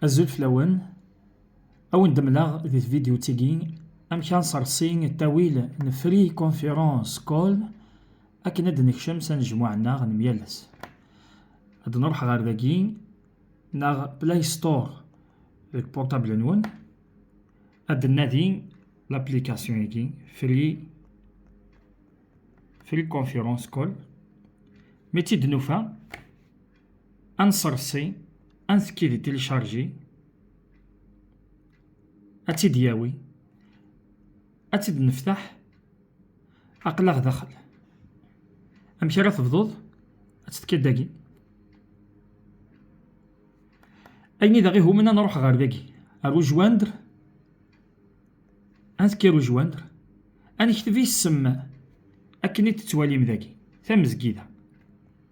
Azul fell-awen, ad wen-d-mleɣ di tvidyut-agi amek ad nsersi ttawil n Free Conference Call akken ad d-nekcem s anejmuɛ-nneɣ n yal ass. Ad nruḥ ɣer dagi neɣ Play Store deg portable-nwen, ad d-nnadi l'application-agi Free Free Conference Call. Mi tt-id-nufa, ad nṣerṣi ad ntekki di tilicharji ad tt-id yawi ad tt-id neftaḥ aqlaɣ daxel amek ara tebduḍ ad tekki dagi ayen i d aɣihumen ad nruḥ ɣer dagi ar ujwandr ad tekki ar ujwandr ad nekteb isem akken i d-tettwalim dagi tamezgida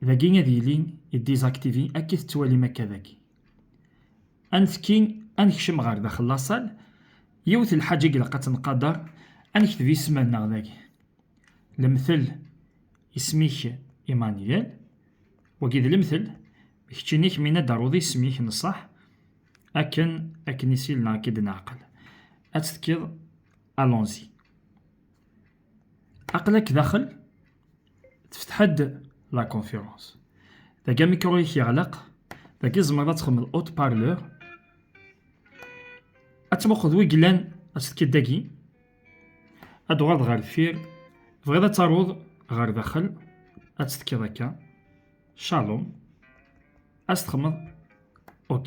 Dagi ad yili i désactivé akka i tettwalim akka dagi. Ad netki, ad nekcem ɣer daxel lasal, yiwet n lḥaǧa i ilaq ad tenqader, ad nekteb isem-nneɣ dagi. Lemtel, isem-ik Emmanuel, wagi d lemtel, kečč ini-k mi ad aruḍ isem-ik n ṣṣeḥ, akken akken i s-il neɣ akken i d-neɛqel. Ad tt-tkiḍ allons-y. aql-ak daxel tefteḥ-d la conférence dagi amikru-ik yeɣleq dagi tzemreḍ ad txedmeḍ haut parleur ad tmuqeḍ wi yellan ad tefkeḍ dagi ad tuɣaleḍ ɣer deffir tebɣiḍ ad taruḍ ɣer daxel ad tefkeḍ akka shalom ad txedmeḍ ok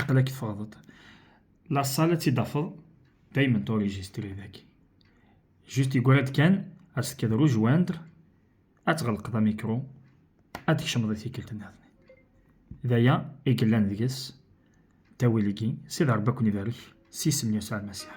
aql-ak teffɣeḍ-d laṣal ad tt-id-tafeḍ daymen turijistri daki juste yeggra-d kan ad s-tekkeḍ rejoindre ad tɣelqeḍ amikru ad tkecmeḍ i tikkelt niḍen d aya i yellan deg-s tawil-agi sid rebbi ad ken-ibarek s yisem n Yasuɛ Lmasiḥ